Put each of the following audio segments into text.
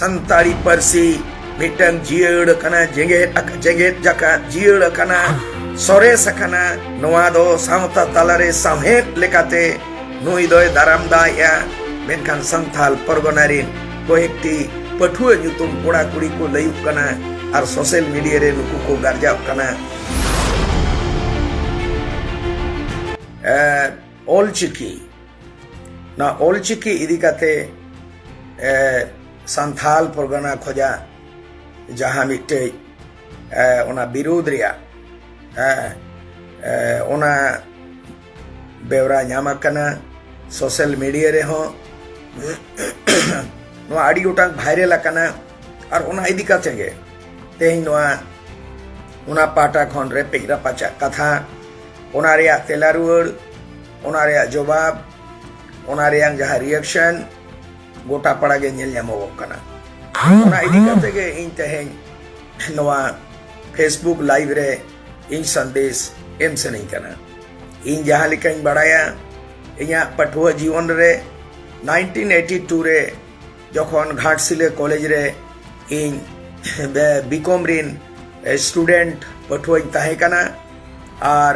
ᱥᱟᱱᱛᱟᱲᱤ ᱯᱟᱹᱨᱥᱤ ᱢᱤᱫᱴᱟᱝ ᱡᱤᱭᱟᱹᱲ ᱟᱠᱟᱱᱟ ᱡᱮᱜᱮᱛ ᱡᱮᱜᱮᱛ ᱡᱟᱠᱟᱛ ᱡᱤᱭᱟᱹᱲ ᱟᱠᱟᱱᱟ ᱥᱚᱨᱮᱥ ᱟᱠᱟᱱᱟ ᱱᱚᱣᱟ ᱫᱚ ᱥᱟᱶᱛᱟ ᱛᱟᱞᱟᱨᱮ ᱥᱟᱶᱦᱮᱫ ᱞᱮᱠᱟᱛᱮ ᱱᱩᱭ ᱫᱚᱭ ᱫᱟᱨᱟᱢ ᱫᱟᱭᱮᱜᱼᱟ ᱢᱮᱱᱠᱷᱟᱱ ᱥᱟᱱᱛᱟᱞ ᱯᱚᱨᱜᱚᱱᱟ ᱨᱤᱱ ᱠᱚᱭᱮᱠᱴᱤ ᱯᱟᱹᱴᱷᱩᱣᱟᱹ ᱧᱩᱛᱩᱢ ᱠᱚᱲᱟ ᱠᱩᱲᱤ ᱠᱚ ᱞᱟᱹᱭᱩᱜ ᱠᱟᱱᱟ ᱟᱨ ᱥᱳᱥᱟᱞ ᱢᱤᱰᱤᱭᱟ ᱨᱮ ᱱᱩᱠᱩ ᱠᱚ ᱜᱟᱨᱡᱟᱣ ᱠᱟᱱᱟ ᱚᱞᱪᱤᱠᱤ ᱱᱚᱣᱟ ᱚᱞᱪᱤᱠᱤ ᱤᱫᱤ ᱠᱟᱛᱮ ᱥᱟᱱᱛᱷᱟᱞ ᱯᱚᱨᱜᱟᱱᱟ ᱠᱷᱚᱡᱟᱜ ᱡᱟᱦᱟᱸ ᱢᱤᱫᱴᱮᱡ ᱚᱱᱟ ᱵᱤᱨᱳᱫᱷ ᱨᱮᱭᱟᱜ ᱚᱱᱟ ᱵᱮᱣᱨᱟ ᱧᱟᱢ ᱟᱠᱟᱱᱟ ᱥᱳᱥᱟᱞ ᱢᱤᱰᱤᱭᱟ ᱨᱮᱦᱚᱸ ᱱᱚᱣᱟ ᱟᱹᱰᱤ ᱜᱚᱴᱟᱝ ᱵᱷᱟᱭᱨᱟᱞ ᱟᱠᱟᱱᱟ ᱟᱨ ᱚᱱᱟ ᱤᱫᱤ ᱠᱟᱛᱮ ᱜᱮ ᱛᱮᱦᱮᱧ ᱱᱚᱣᱟ ᱚᱱᱟ ᱯᱟᱦᱴᱟ ᱠᱷᱚᱱ ᱨᱮᱯᱮᱡ ᱨᱟᱯᱟᱪᱟᱜ ᱠᱟᱛᱷᱟ ᱚᱱᱟ ᱨᱮᱭᱟᱜ ᱛᱮᱞᱟ ᱨᱩᱣᱟᱹᱲ ᱚᱱᱟ ᱨᱮᱭᱟᱜ ᱡᱚᱵᱟᱵ ᱚᱱᱟ ᱨᱮᱭᱟᱜ ᱡᱟᱦᱟᱸ ᱨᱤᱭᱮᱠᱥᱚᱱ ᱜᱚᱴᱟ ᱯᱟᱲᱟ ᱜᱮ ᱧᱮᱞ ᱧᱟᱢᱚᱜᱚᱜ ᱠᱟᱱᱟ ᱚᱱᱟ ᱤᱫᱤ ᱠᱟᱛᱮ ᱜᱮ ᱤᱧ ᱛᱮᱦᱮᱧ ᱱᱚᱣᱟ ᱯᱷᱮᱥᱵᱩᱠ ᱞᱟᱭᱤᱵ ᱨᱮ ᱤᱧ ᱥᱟᱸᱫᱮᱥ ᱮᱢ ᱥᱟᱱᱟᱧ ᱠᱟᱱᱟ ᱤᱧ ᱡᱟᱦᱟᱸ ᱞᱮᱠᱟᱧ ᱵᱟᱲᱟᱭᱟ ᱤᱧᱟᱹᱜ ᱯᱟᱹᱴᱷᱩᱣᱟᱹ ᱡᱤᱭᱚᱱ ᱨᱮ 1982 ᱨᱮ ᱡᱚᱠᱷᱚᱱ ᱜᱷᱟᱴᱥᱤᱞᱟᱹ ᱠᱚᱞᱮᱡᱽ ᱨᱮ ᱤᱧ ᱵᱤᱠᱚᱢ ᱨᱤᱱ ᱥᱴᱩᱰᱮᱱᱴ ᱯᱟᱹᱴᱷᱩᱣᱟᱹᱧ ᱛᱟᱦᱮᱸ ᱠᱟᱱᱟ ᱟᱨ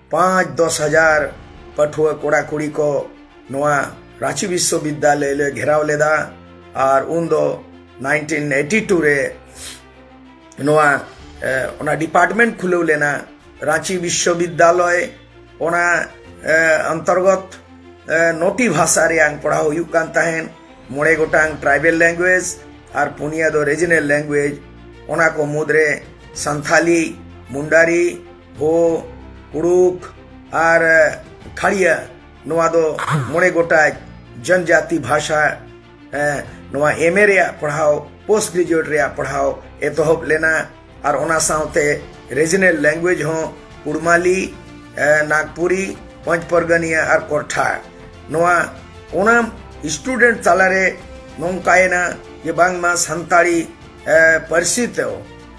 ᱯᱟᱸᱪ ᱫᱚᱥ ᱦᱟᱡᱟᱨ ᱯᱟᱹᱴᱷᱩᱣᱟᱹ ᱠᱚᱲᱟ ᱠᱩᱲᱤ ᱠᱚ ᱱᱚᱣᱟ ᱨᱟᱺᱪᱤ ᱵᱤᱥᱥᱚᱵᱤᱫᱽᱫᱟᱞᱚᱭ ᱞᱮ ᱜᱷᱮᱨᱟᱣ ᱞᱮᱫᱟ ᱟᱨ ᱩᱱ ᱫᱚ ᱱᱟᱭᱤᱱᱴᱤᱱ ᱮᱭᱤᱴᱤ ᱴᱩ ᱨᱮ ᱱᱚᱣᱟ ᱚᱱᱟ ᱰᱤᱯᱟᱨᱴᱢᱮᱱᱴ ᱠᱷᱩᱞᱟᱹᱣ ᱞᱮᱱᱟ ᱨᱟᱺᱪᱤ ᱵᱤᱥᱥᱚᱵᱤᱫᱽᱫᱟᱞᱚᱭ ᱚᱱᱟ ᱚᱱᱛᱚᱨᱜᱚᱛ ᱱᱚᱴᱤ ᱵᱷᱟᱥᱟ ᱨᱮᱭᱟᱝ ᱯᱟᱲᱦᱟᱣ ᱦᱩᱭᱩᱜ ᱠᱟᱱ ᱛᱟᱦᱮᱸᱫ ᱢᱚᱬᱮ ᱜᱚᱴᱟᱝ ᱴᱨᱟᱭᱵᱮᱞ ᱞᱮᱝᱜᱩᱭᱮᱡᱽ ᱟᱨ ᱯᱩᱱᱭᱟ ᱫᱚ ᱨᱮᱡᱤᱱᱟᱞ ᱞᱮᱝᱜᱩᱭᱮᱡᱽ ᱚᱱᱟ ᱠᱚ ᱢᱩᱫᱽᱨᱮ ᱥᱟᱱᱛᱷᱟᱞᱤ ᱢᱩᱱᱰᱟᱨᱤ ᱵᱷᱳ ᱠᱩᱲᱩᱠ ᱟᱨ ᱠᱷᱟᱲᱤᱭᱟ ᱱᱚᱣᱟ ᱫᱚ ᱢᱚᱬᱮ ᱜᱚᱴᱟᱡ ᱡᱚᱱᱡᱟᱛᱤ ᱵᱷᱟᱥᱟ ᱱᱚᱣᱟ ᱮᱢ ᱮ ᱨᱮᱭᱟᱜ ᱯᱟᱲᱦᱟᱣ ᱯᱳᱥᱴ ᱜᱨᱮᱡᱩᱭᱮᱴ ᱨᱮᱭᱟᱜ ᱯᱟᱲᱦᱟᱣ ᱮᱛᱚᱦᱚᱵ ᱞᱮᱱᱟ ᱟᱨ ᱚᱱᱟ ᱥᱟᱶᱛᱮ ᱨᱮᱡᱤᱱᱮᱞ ᱞᱮᱝᱜᱩᱭᱮᱡᱽ ᱦᱚᱸ ᱠᱩᱲᱢᱟᱞᱤ ᱱᱟᱜᱽᱯᱩᱨᱤ ᱯᱚᱸᱪ ᱯᱚᱨᱜᱟᱱᱤᱭᱟ ᱟᱨ ᱠᱚᱨᱴᱷᱟ ᱱᱚᱣᱟ ᱚᱱᱟ ᱥᱴᱩᱰᱮᱱᱴ ᱛᱟᱞᱟᱨᱮ ᱱᱚᱝᱠᱟᱭᱮᱱᱟ ᱡᱮ ᱵᱟᱝᱢᱟ ᱥᱟᱱᱛᱟᱲᱤ ᱯᱟᱹᱨᱥᱤ ᱛᱮ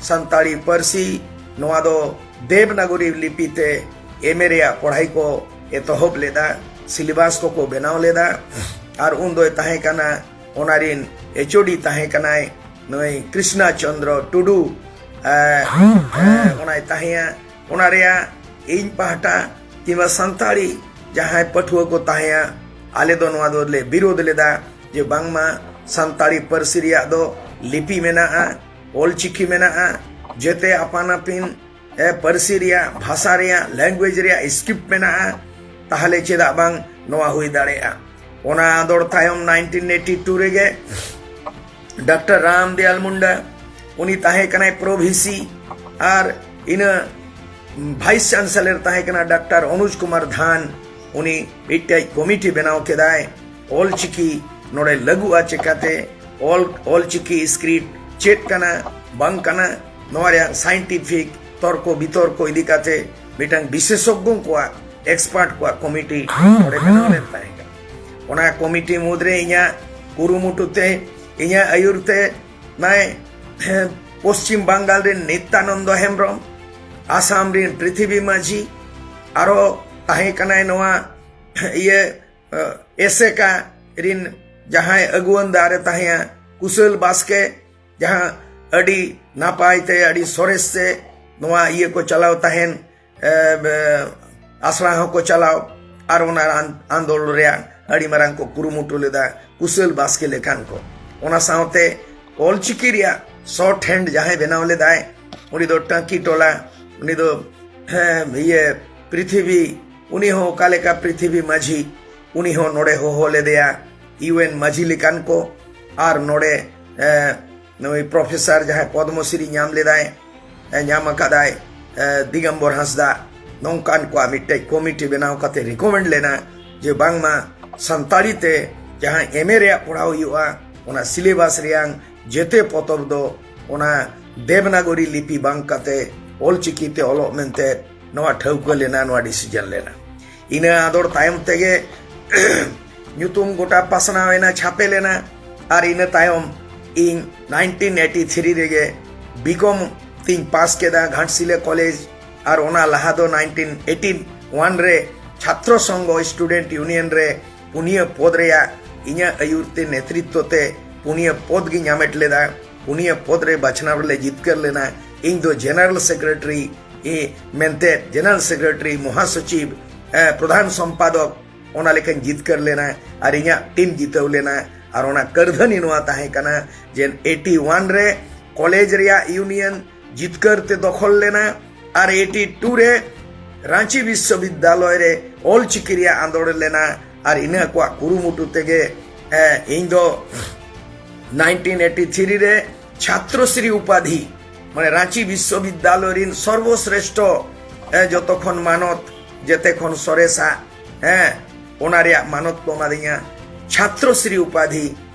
ᱥᱟᱱᱛᱟᱲᱤ ᱯᱟᱹᱨᱥᱤ ᱱᱚᱣᱟ ᱫᱚ ᱫᱮᱵᱽᱱᱟᱜᱚᱨᱤ ᱞᱤᱯᱤ ᱛᱮ ᱮᱢ ᱮ ᱨᱮᱭᱟᱜ ᱯᱟᱲᱦᱟᱭ ᱠᱚ ᱮᱛᱚᱦᱚᱵ ᱞᱮᱫᱟ ᱥᱤᱞᱮᱵᱟᱥ ᱠᱚᱠᱚ ᱵᱮᱱᱟᱣ ᱞᱮᱫᱟ ᱟᱨ ᱩᱱ ᱫᱚᱭ ᱛᱟᱦᱮᱸ ᱠᱟᱱᱟ ᱚᱱᱟ ᱨᱤᱱ ᱮᱪᱳᱰᱤ ᱛᱟᱦᱮᱸ ᱠᱟᱱᱟᱭ ᱱᱩᱭ ᱠᱨᱤᱥᱱᱟ ᱪᱚᱱᱫᱨᱚ ᱴᱩᱰᱩ ᱚᱱᱟᱭ ᱛᱟᱦᱮᱸᱭᱟ ᱚᱱᱟ ᱨᱮᱭᱟᱜ ᱤᱧ ᱯᱟᱦᱴᱟ ᱠᱤᱝᱵᱟ ᱥᱟᱱᱛᱟᱲᱤ ᱡᱟᱦᱟᱸᱭ ᱯᱟᱹᱴᱷᱩᱣᱟᱹ ᱠᱚ ᱛᱟᱦᱮᱸᱭᱟ ᱟᱞᱮ ᱫᱚ ᱱᱚᱣᱟ ᱫᱚᱞᱮ ᱵᱤᱨᱳᱫ ᱞᱮᱫᱟ ᱡᱮ ᱵᱟᱝᱢᱟ ᱥᱟᱱᱛᱟᱲᱤ ᱯᱟᱹᱨᱥᱤ ᱨᱮᱭᱟᱜ ᱫᱚ ᱞᱤᱯᱤ ᱢᱮᱱᱟᱜᱼᱟ ᱚᱞᱪᱤᱠᱤ ᱢᱮᱱᱟᱜᱼᱟ ᱡᱮᱛᱮ ᱟᱯᱟᱱ ᱟᱹᱯᱤᱱ ᱯᱟᱹᱨᱥᱤ ᱨᱮᱭᱟᱜ ᱵᱷᱟᱥᱟ ᱨᱮᱭᱟᱜ ᱞᱮᱝᱜᱩᱭᱮᱡᱽ ᱨᱮᱭᱟᱜ ᱥᱠᱨᱤᱯᱴ ᱢᱮᱱᱟᱜᱼᱟ ᱛᱟᱦᱞᱮ ᱪᱮᱫᱟᱜ ᱵᱟᱝ ᱱᱚᱣᱟ ᱦᱩᱭ ᱫᱟᱲᱮᱭᱟᱜᱼᱟ ᱚᱱᱟ ᱟᱸᱫᱚᱲ ᱛᱟᱭᱚᱢ 1982 ᱨᱮᱜᱮ ᱰᱟᱠᱴᱚᱨ ᱨᱟᱢᱫᱮᱭᱟᱞ ᱢᱩᱱᱰᱟ ᱩᱱᱤ ᱛᱟᱦᱮᱸ ᱠᱟᱱᱟᱭ ᱯᱨᱚᱵᱷᱤᱥᱤ ᱟᱨ ᱤᱱᱟᱹ ᱵᱷᱟᱭᱤᱥ ᱪᱟᱱᱥᱮᱞᱚᱨ ᱛᱟᱦᱮᱸ ᱠᱟᱱᱟ ᱰᱟᱠᱴᱚᱨ ᱚᱱᱩᱡᱽ ᱠᱩᱢᱟᱨ ᱫᱷᱟᱱ ᱩᱱᱤ ᱢᱤᱫᱴᱮᱡ ᱠᱚᱢᱤᱴᱤ ᱵᱮᱱᱟᱣ ᱠᱮᱫᱟᱭ ᱚᱞ ᱪᱤᱠᱤ ᱱᱚᱰᱮ ᱞᱟᱹᱜᱩᱜᱼᱟ ᱪᱮᱠᱟᱛᱮ ᱚᱞ ᱚᱞ ᱪᱤᱠᱤ ᱥᱠᱨᱤᱯᱴ ᱪᱮᱫ ᱠᱟᱱᱟ ᱵᱟᱝ ᱠᱟᱱᱟ ᱱᱚᱣᱟ ᱨᱮᱭᱟᱜ ᱥᱟᱭᱮᱱᱴᱤᱯᱷᱤᱠ ᱛᱚᱨᱠᱚ ᱵᱤᱛᱚᱨᱠᱚ ᱤᱫᱤ ᱠᱟᱛᱮ ᱢᱤᱫᱴᱟᱝ ᱵᱤᱥᱮᱥᱚᱜᱽᱜᱚ ᱠᱚᱣᱟᱜ ᱮᱠᱥᱯᱟᱨᱴ ᱠᱚᱣᱟᱜ ᱠᱚᱢᱤᱴᱤ ᱱᱚᱰᱮ ᱵᱮᱱᱟᱣ ᱞᱮᱱ ᱛᱟᱦᱮᱸ ᱠᱟᱱᱟ ᱚᱱᱟ ᱠᱚᱢᱤᱴᱤ ᱢᱩᱫᱽᱨᱮ ᱤᱧᱟᱹᱜ ᱠᱩᱨᱩᱢᱩᱴᱩ ᱛᱮ ᱤᱧᱟᱹᱜ ᱟᱹᱭᱩᱨ ᱛᱮ ᱱᱟᱭ ᱯᱚᱥᱪᱤᱢ ᱵᱟᱝᱜᱟᱞ ᱨᱮᱱ ᱱᱤᱛᱭᱟᱱᱚᱱᱫᱚ ᱦᱮᱢᱵᱨᱚᱢ ᱟᱥᱟᱢ ᱨᱮᱱ ᱯᱨᱤᱛᱷᱤᱵᱤ ᱢᱟᱹᱡᱷᱤ ᱟᱨᱚ ᱛᱟᱦᱮᱸ ᱠᱟᱱᱟᱭ ᱱᱚᱣᱟ ᱤᱭᱟᱹ ᱮᱥᱮᱠᱟ ᱨᱤᱱ ᱡᱟᱦᱟᱸᱭ ᱟᱹᱜᱩᱣᱟᱹᱱ ᱫᱟᱨᱮ ᱛᱟᱦᱮᱸᱭᱟ ᱠᱩᱥᱟᱹᱞ ᱵᱟᱥᱠᱮ ᱡᱟᱦᱟᱸ ᱟᱹᱰᱤ ᱱᱟᱯᱟᱭ ᱛᱮ ᱟᱹᱰᱤ ᱥᱚᱨᱮᱥ ᱛᱮ ᱱᱚᱣᱟ ᱤᱭᱟᱹ ᱠᱚ ᱪᱟᱞᱟᱣ ᱛᱟᱦᱮᱱ ᱟᱥᱲᱟ ᱦᱚᱸᱠᱚ ᱪᱟᱞᱟᱣ ᱟᱨ ᱚᱱᱟ ᱟᱱᱫᱳᱞ ᱨᱮᱭᱟᱜ ᱟᱹᱰᱤ ᱢᱟᱨᱟᱝ ᱠᱚ ᱠᱩᱨᱩᱢᱩᱴᱩ ᱞᱮᱫᱟ ᱠᱩᱥᱟᱹᱞ ᱵᱟᱥᱠᱮ ᱞᱮᱠᱟᱱ ᱠᱚ ᱚᱱᱟ ᱥᱟᱶᱛᱮ ᱚᱞᱪᱤᱠᱤ ᱨᱮᱭᱟᱜ ᱥᱚᱨᱴ ᱦᱮᱱᱰ ᱡᱟᱦᱟᱸᱭ ᱵᱮᱱᱟᱣ ᱞᱮᱫᱟᱭ ᱩᱱᱤ ᱫᱚ ᱴᱟᱸᱠᱤ ᱴᱚᱞᱟ ᱩᱱᱤ ᱫᱚ ᱤᱭᱟᱹ ᱯᱨᱤᱛᱷᱤᱵᱤ ᱩᱱᱤ ᱦᱚᱸ ᱚᱠᱟ ᱞᱮᱠᱟ ᱯᱨᱤᱛᱷᱤᱵᱤ ᱢᱟᱹᱡᱷᱤ ᱩᱱᱤ ᱦᱚᱸ ᱱᱚᱰᱮ ᱦᱚᱦᱚ ᱞᱮᱫᱮᱭᱟ ᱤᱣᱮᱱ ᱢᱟᱹᱡᱷᱤ ᱞᱮᱠᱟᱱ ᱠᱚ ᱟᱨ ᱱᱚᱰᱮ ᱱᱩᱭ ᱯᱨᱚᱯᱷᱮᱥᱟᱨ ᱡᱟᱦᱟᱸᱭ ᱯᱚᱫᱢᱚᱥᱨᱤ ᱧᱟᱢ ᱞᱮᱫᱟᱭ ᱧᱟᱢ ᱟᱠᱟᱫᱟᱭ ᱫᱤᱜᱚᱢᱵᱚᱨ ᱦᱟᱸᱥᱫᱟ ᱱᱚᱝᱠᱟᱱ ᱠᱚᱣᱟᱜ ᱢᱤᱫᱴᱮᱡ ᱠᱚᱢᱤᱴᱤ ᱵᱮᱱᱟᱣ ᱠᱟᱛᱮ ᱨᱤᱠᱚᱢᱮᱱᱰ ᱞᱮᱱᱟ ᱡᱮ ᱵᱟᱝᱢᱟ ᱥᱟᱱᱛᱟᱲᱤ ᱛᱮ ᱡᱟᱦᱟᱸ ᱮᱢᱮ ᱨᱮᱭᱟᱜ ᱯᱟᱲᱦᱟᱣ ᱦᱩᱭᱩᱜᱼᱟ ᱚᱱᱟ ᱥᱤᱞᱮᱵᱟᱥ ᱨᱮᱭᱟᱝ ᱡᱮᱛᱮ ᱯᱚᱛᱚᱵ ᱫᱚ ᱚᱱᱟ ᱫᱮᱵᱽᱱᱟᱜᱚᱨᱤ ᱞᱤᱯᱤ ᱵᱟᱝ ᱠᱟᱛᱮ ᱚᱞᱪᱤᱠᱤ ᱛᱮ ᱚᱞᱚᱜ ᱢᱮᱱᱛᱮ ᱱᱚᱣᱟ ᱴᱷᱟᱹᱣᱠᱟᱹ ᱞᱮᱱᱟ ᱱᱚᱣᱟ ᱰᱤᱥᱤᱡᱚᱱ ᱞᱮᱱᱟ ᱤᱱᱟᱹ ᱟᱫᱚᱲ ᱛᱟᱭᱚᱢ ᱛᱮᱜᱮ ᱧᱩᱛᱩᱢ ᱜᱚᱴᱟ ᱯᱟᱥᱱᱟᱣ ᱮᱱᱟ ᱪᱷᱟᱯᱮ ᱞᱮᱱᱟ ᱟᱨ ᱤᱱᱟᱹ ᱛᱟᱭᱚᱢ ᱤᱧ 1983 ᱨᱮᱜᱮ ᱵᱤᱠᱚᱢ ᱛᱤᱧ ᱯᱟᱥ ᱠᱮᱫᱟ ᱜᱷᱟᱴᱥᱤᱞᱟ ᱠᱚᱞᱮᱡᱽ ᱟᱨ ᱚᱱᱟ ᱞᱟᱦᱟ ᱫᱚ 1981 ᱨᱮ ᱪᱷᱟᱛᱨᱚ ᱥᱚᱝᱜᱷᱚ ᱥᱴᱩᱰᱮᱱᱴ ᱭᱩᱱᱤᱭᱚᱱ ᱨᱮ ᱯᱩᱱᱭᱟᱹ ᱯᱚᱫ ᱨᱮᱭᱟᱜ ᱤᱧᱟᱹᱜ ᱟᱹᱭᱩᱨ ᱛᱮ ᱱᱮᱛᱨᱤᱛᱛᱚ ᱛᱮ ᱯᱩᱱᱭᱟᱹ ᱯᱚᱫ ᱜᱤᱧ ᱦᱟᱢᱮᱴ ᱞᱮᱫᱟ ᱯᱩᱱᱭᱟᱹ ᱯᱚᱫ ᱨᱮ ᱵᱟᱪᱷᱱᱟᱣ ᱨᱮᱞᱮ ᱡᱤᱛᱠᱟᱹᱨ ᱞᱮᱱᱟ ᱤᱧ ᱫᱚ ᱡᱮᱱᱟᱨᱮᱞ ᱥᱮᱠᱨᱮᱴᱟᱨᱤ ᱢᱮᱱᱛᱮ ᱡᱮᱱᱟᱨᱮᱞ ᱥᱮᱠᱨᱮᱴᱟᱨᱤ ᱢᱚᱦᱟᱥᱚᱪᱤᱵ ᱯᱨᱚᱫᱷᱟᱱ ᱥᱚᱢᱯᱟᱫᱚᱠ ᱚᱱᱟ ᱞᱮᱠᱟᱧ ᱡᱤᱛᱠᱟᱹᱨ ᱞᱮᱱᱟ ᱟᱨ ᱤᱧᱟᱹᱜ ᱴᱤᱢ ᱡᱤᱛᱟᱹᱣ ᱞᱮᱱᱟ ᱟᱨ ᱚᱱᱟ ᱠᱟᱹᱨᱫᱷᱟᱹᱱᱤ ᱱᱚᱣᱟ ᱛᱟᱦᱮᱸ ᱠᱟᱱᱟ ᱡᱮ ᱮᱭᱤᱴᱤ ᱳᱣᱟᱱ ᱨᱮ ᱠᱚᱞᱮᱡᱽ ᱨᱮᱭᱟᱜ ᱤᱭᱩᱱᱤᱭᱚᱱ ᱡᱤᱛᱠᱟᱹᱨ ᱛᱮ ᱫᱚᱠᱷᱚᱞ ᱞᱮᱱᱟ ᱟᱨ ᱮᱴᱤ ᱴᱩ ᱨᱮ ᱨᱟᱺᱪᱤ ᱵᱤᱥᱥᱚᱵᱤᱫᱽᱫᱟᱞᱚᱭ ᱨᱮ ᱚᱞ ᱪᱤᱠᱤ ᱨᱮᱭᱟᱜ ᱟᱸᱫᱚᱲ ᱞᱮᱱᱟ ᱟᱨ ᱤᱱᱟᱹ ᱠᱚᱣᱟᱜ ᱠᱩᱨᱩᱢᱩᱴᱩ ᱛᱮᱜᱮ ᱤᱧ ᱫᱚ 1983 ᱨᱮ ᱪᱷᱟᱛᱨᱚᱥᱨᱤ ᱩᱯᱟᱫᱷᱤ ᱢᱟᱱᱮ ᱨᱟᱺᱪᱤ ᱵᱤᱥᱥᱚᱵᱤᱫᱽᱫᱟᱞᱚᱭ ᱨᱤᱱ ᱥᱚᱨᱵᱚᱥᱨᱮᱥᱴᱷᱚ ᱡᱚᱛᱚ ᱠᱷᱚᱱ ᱢᱟᱱᱚᱛ ᱡᱮᱛᱮ ᱠᱷᱚᱱ ᱥᱚᱨᱮᱥᱟ ᱦᱮᱸ ᱚᱱᱟ ᱨᱮᱭᱟᱜ ᱢᱟᱱᱚᱛ ᱠᱚ ᱮᱢᱟᱫᱤᱧᱟ ᱪᱷᱟᱛᱨᱚᱥᱨᱤ ᱩᱯᱟᱫᱷᱤ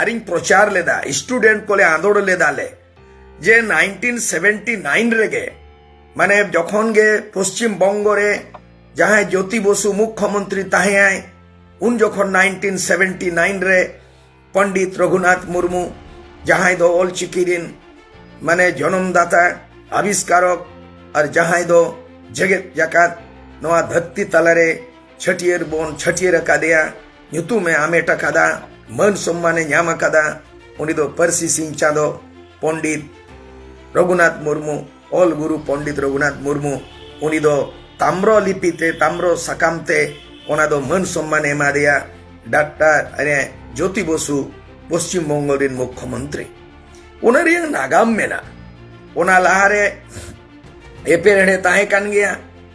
ᱟᱨᱤᱧ ᱯᱨᱚᱪᱟᱨ ᱞᱮᱫᱟ ᱥᱴᱩᱰᱮᱱᱴ ᱠᱚᱞᱮ ᱟᱸᱫᱳᱲ ᱞᱮᱫᱟ ᱞᱮ ᱡᱮ 1979 ᱨᱮᱜᱮ ᱢᱟᱱᱮ ᱡᱚᱠᱷᱚᱱ ᱜᱮ ᱯᱚᱥᱪᱤᱢ ᱵᱚᱝᱜᱚ ᱨᱮ ᱡᱟᱦᱟᱸᱭ ᱡᱳᱛᱤ ᱵᱚᱥᱩ ᱢᱩᱠᱷᱭᱚᱢᱚᱱᱛᱨᱤ ᱛᱟᱦᱮᱸᱭᱟᱭ ᱩᱱ ᱡᱚᱠᱷᱚᱱ 1979 ᱨᱮ ᱯᱚᱱᱰᱤᱛ ᱨᱚᱜᱷᱩᱱᱟᱛᱷ ᱢᱩᱨᱢᱩ ᱡᱟᱦᱟᱸᱭ ᱫᱚ ᱚᱞ ᱪᱤᱠᱤ ᱨᱤᱱ ᱢᱟᱱᱮ ᱡᱚᱱᱚᱢ ᱫᱟᱛᱟ ᱟᱵᱤᱥᱠᱟᱨᱚᱠ ᱟᱨ ᱡᱟᱦᱟᱸᱭ ᱫᱚ ᱡᱮᱜᱮᱛ ᱡᱟᱠᱟᱛ ᱱᱚᱣᱟ ᱫᱷᱟᱹᱨᱛᱤ ᱛᱟᱞᱟᱨᱮ ᱪᱷᱟᱹᱴᱭᱟᱹᱨ ᱵᱚᱱ ᱪᱷᱟᱹᱴᱭᱟᱹᱨ ᱟᱠᱟᱫᱮᱭᱟ ᱧᱩᱛᱩᱢ ᱮ ᱟᱢᱮᱴ ᱟᱠᱟᱫᱟ ᱢᱟᱹᱱ ᱥᱚᱢᱢᱟᱱ ᱮ ᱧᱟᱢ ᱟᱠᱟᱫᱟ ᱩᱱᱤ ᱫᱚ ᱯᱟᱹᱨᱥᱤ ᱥᱤᱧ ᱪᱟᱸᱫᱚ ᱯᱚᱱᱰᱤᱛ ᱨᱚᱜᱷᱩᱱᱟᱛᱷ ᱢᱩᱨᱢᱩ ᱚᱞ ᱜᱩᱨᱩ ᱯᱚᱱᱰᱤᱛ ᱨᱚᱜᱷᱩᱱᱟᱛᱷ ᱢᱩᱨᱢᱩ ᱩᱱᱤ ᱫᱚ ᱛᱟᱢᱨᱚ ᱞᱤᱯᱤ ᱛᱮ ᱛᱟᱢᱨᱚ ᱥᱟᱠᱟᱢ ᱛᱮ ᱚᱱᱟ ᱫᱚ ᱢᱟᱹᱱ ᱥᱚᱢᱢᱟᱱ ᱮ ᱮᱢᱟᱫᱮᱭᱟ ᱰᱟᱠᱴᱟᱨ ᱡᱳᱛᱤ ᱵᱚᱥᱩ ᱯᱚᱥᱪᱤᱢ ᱵᱚᱝᱜᱚ ᱨᱮᱱ ᱢᱩᱠᱷᱭᱚᱢᱚᱱᱛᱨᱤ ᱚᱱᱟ ᱨᱮᱭᱟᱜ ᱱᱟᱜᱟᱢ ᱢᱮᱱᱟᱜᱼᱟ ᱚᱱᱟ ᱞᱟᱦᱟᱨᱮ ᱮᱯᱮᱨᱦᱮᱰᱮ ᱛᱟᱦᱮᱸ ᱠᱟᱱ ᱜᱮᱭᱟ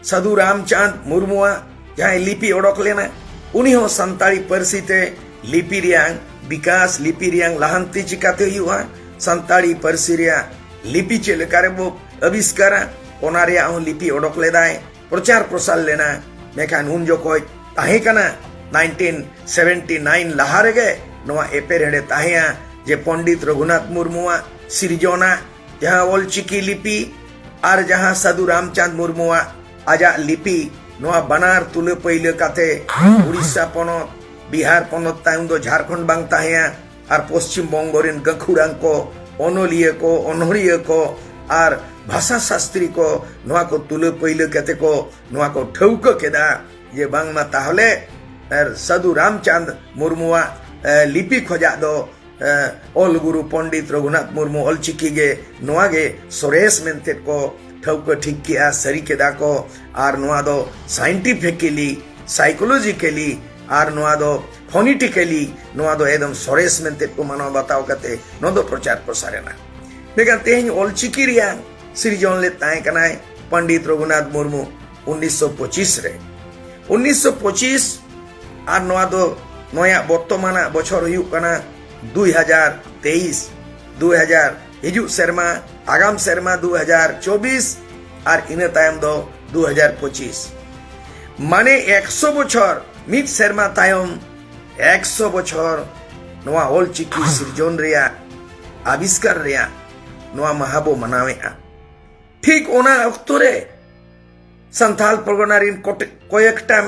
ᱥᱟᱹᱫᱷᱩ ᱨᱟᱢᱪᱟᱸᱫᱽ ᱢᱩᱨᱢᱩᱣᱟᱜ ᱡᱟᱦᱟᱸᱭ ᱞᱤᱯᱤ ᱚᱰᱚᱠ ᱞᱮᱱᱟ ᱩᱱᱤ ᱦᱚᱸ ᱥᱟᱱᱛᱟᱲᱤ ᱯᱟᱹᱨᱥᱤ ᱛᱮ ᱞᱤᱯᱤ ᱨᱮᱭᱟᱝ ᱵᱤᱠᱟᱥ ᱞᱤᱯᱤ ᱨᱮᱭᱟᱝ ᱞᱟᱦᱟᱱᱛᱤ ᱪᱤᱠᱟᱛᱮ ᱦᱩᱭᱩᱜᱼᱟ ᱥᱟᱱᱛᱟᱲᱤ ᱯᱟᱹᱨᱥᱤ ᱨᱮᱭᱟᱜ ᱞᱤᱯᱤ ᱪᱮᱫ ᱞᱮᱠᱟᱨᱮ ᱵᱚ ᱟᱵᱤᱥᱠᱟᱨᱟ ᱚᱱᱟ ᱨᱮᱭᱟᱜ ᱦᱚᱸ ᱞᱤᱯᱤ ᱚᱰᱚᱠ ᱞᱮᱫᱟᱭ ᱯᱨᱚᱪᱟᱨ ᱯᱨᱚᱥᱟᱨ ᱞᱮᱱᱟ ᱢᱮᱠᱷᱟᱱ ᱩᱱ ᱡᱚᱠᱷᱚᱡ ᱛᱟᱦᱮᱸ ᱠᱟᱱᱟ 1979 ᱞᱟᱦᱟ ᱨᱮᱜᱮ ᱱᱚᱣᱟ ᱮᱯᱮᱨᱦᱮᱰᱮ ᱛᱟᱦᱮᱸᱭᱟ ᱡᱮ ᱯᱚᱱᱰᱤᱛ ᱨᱚᱜᱷᱩᱱᱟᱛᱷ ᱢᱩᱨᱢᱩᱣᱟᱜ ᱥᱤᱨᱡᱚᱱᱟ ᱡᱟᱦᱟᱸ ᱚᱞᱪᱤᱠᱤ ᱞᱤᱯᱤ ᱟᱨ ᱡᱟᱦᱟᱸ ᱥᱟᱫᱷᱩ ᱨᱟᱢᱪᱟᱸᱫᱽ ᱢᱩᱨᱢᱩᱣᱟᱜ ᱟᱡᱟᱜ ᱞᱤᱯᱤ ᱱᱚᱣᱟ ᱵᱟᱱᱟᱨ ᱛᱩᱞᱟᱹ ᱯᱟᱹᱭᱞᱟᱹ ᱠᱟᱛᱮ ᱩᱲᱤᱥᱥᱟ ᱯᱚᱱᱚᱛ ᱵᱤᱦᱟᱨ ᱯᱚᱱᱚᱛ ᱛᱟᱭᱚᱢ ᱫᱚ ᱡᱷᱟᱨᱠᱷᱚᱸᱰ ᱵᱟᱝ ᱛᱟᱦᱮᱸᱭᱟ ᱟᱨ ᱯᱚᱥᱪᱤᱢ ᱵᱚᱝᱜᱚ ᱨᱮᱱ ᱜᱟᱹᱠᱷᱩᱲᱟᱱ ᱠᱚ ᱚᱱᱚᱞᱤᱭᱟᱹ ᱠᱚ ᱚᱱᱚᱲᱤᱭᱟᱹ ᱠᱚ ᱟᱨ ᱵᱷᱟᱥᱟ ᱥᱟᱥᱛᱨᱤ ᱠᱚ ᱱᱚᱣᱟ ᱠᱚ ᱛᱩᱞᱟᱹ ᱯᱟᱹᱭᱞᱟᱹ ᱠᱟᱛᱮ ᱠᱚ ᱱᱚᱣᱟ ᱠᱚ ᱴᱷᱟᱹᱣᱠᱟᱹ ᱠᱮᱫᱟ ᱡᱮ ᱵᱟᱝᱢᱟ ᱛᱟᱦᱚᱞᱮ ᱥᱟᱫᱷᱩ ᱨᱟᱢᱪᱟᱸᱫᱽ ᱢᱩᱨᱢᱩᱣᱟᱜ ᱞᱤᱯᱤ ᱠᱷᱚᱡᱟᱜ ᱫᱚ ᱚᱞ ᱜᱩᱨᱩ ᱯᱚᱱᱰᱤᱛ ᱨᱚᱜᱷᱩᱱᱟᱛᱷ ᱢᱩᱨᱢᱩ ᱚᱞ ᱪᱤᱠᱤ ᱜᱮ ᱱᱚᱣᱟ ᱜᱮ ᱥᱚᱨᱮᱥ ᱢᱮᱱᱛᱮ ᱠᱚ ᱴᱷᱟᱹᱣᱠᱟᱹ ᱴᱷᱤᱠ ᱠᱮᱜᱼᱟ ᱥᱟᱹᱨᱤ ᱠᱮᱫᱟ ᱠᱚ ᱟᱨ ᱱᱚᱣᱟ ᱫᱚ ᱥᱟᱭᱮᱱᱴᱤᱯᱷᱤᱠᱮᱞᱤ ᱥᱟᱭᱠᱳᱞᱚᱡᱤᱠᱮᱞᱤ ᱟᱨ ᱱᱚᱣᱟ ᱫᱚ ᱯᱷᱚᱱᱤᱴᱤᱠᱮᱞᱤ ᱱᱚᱣᱟ ᱫᱚ ᱮᱠᱫᱚᱢ ᱥᱚᱨᱮᱥ ᱢᱮᱱᱛᱮ ᱠᱚ ᱢᱟᱱᱟᱣ ᱵᱟᱛᱟᱣ ᱠᱟᱛᱮ ᱱᱚᱣᱟ ᱫᱚ ᱯᱨᱚᱪᱟᱨ ᱯᱨᱚᱥᱟᱨ ᱮᱱᱟ ᱢᱮᱱᱠᱷᱟᱱ ᱛᱮᱦᱮᱧ ᱚᱞ ᱪᱤᱠᱤ ᱨᱮᱭᱟᱜ ᱥᱤᱨᱡᱚᱱ ᱞᱮᱫ ᱛᱟᱦᱮᱸ ᱠᱟᱱᱟᱭ ᱯᱚᱱᱰᱤᱛ ᱨᱚᱜᱷᱩᱱᱟᱛᱷ ᱢᱩᱨᱢᱩ ᱩᱱᱤᱥᱥᱚ ᱯᱚᱸᱪᱤᱥ ᱨᱮ ᱩᱱᱤᱥᱥᱚ ᱯᱚᱸᱪᱤᱥ ᱟᱨ ᱱᱚᱣᱟ ᱫᱚ ᱱᱚᱭᱟᱜ ᱵᱚᱨᱛᱚᱢᱟᱱᱟᱜ ᱵᱚᱪᱷᱚᱨ ᱦᱩᱭᱩᱜ ᱠᱟᱱᱟ ᱫᱩᱭ ᱦᱟᱡᱟᱨ ᱛᱮᱭᱤᱥ ᱫᱩᱭ ᱦᱟᱡᱟᱨ ᱦᱤᱡᱩᱜ ᱥᱮᱨᱢᱟ ᱟᱜᱟᱢ ᱥᱮᱨᱢᱟ ᱫᱩ ᱦᱟᱡᱟᱨ ᱪᱚᱵᱵᱤᱥ ᱟᱨ ᱤᱱᱟᱹ ᱛᱟᱭᱚᱢ ᱫᱚ ᱫᱩ ᱦᱟᱡᱟᱨ ᱯᱚᱸᱪᱤᱥ ᱢᱟᱱᱮ ᱮᱠᱥᱚ ᱵᱚᱪᱷᱚᱨ ᱢᱤᱫ ᱥᱮᱨᱢᱟ ᱛᱟᱭᱚᱢ ᱮᱠᱥᱚ ᱵᱚᱪᱷᱚᱨ ᱱᱚᱣᱟ ᱚᱞ ᱪᱤᱠᱤ ᱥᱤᱨᱡᱚᱱ ᱨᱮᱭᱟᱜ ᱟᱵᱤᱥᱠᱟᱨ ᱨᱮᱭᱟᱜ ᱱᱚᱣᱟ ᱢᱟᱦᱟ ᱵᱚ ᱢᱟᱱᱟᱣᱮᱫᱼᱟ ᱴᱷᱤᱠ ᱚᱱᱟ ᱚᱠᱛᱚ ᱨᱮ ᱥᱟᱱᱛᱟᱞ ᱯᱚᱨᱜᱚᱱᱟ ᱨᱮᱱ ᱠᱚᱭᱮᱠᱴᱟᱝ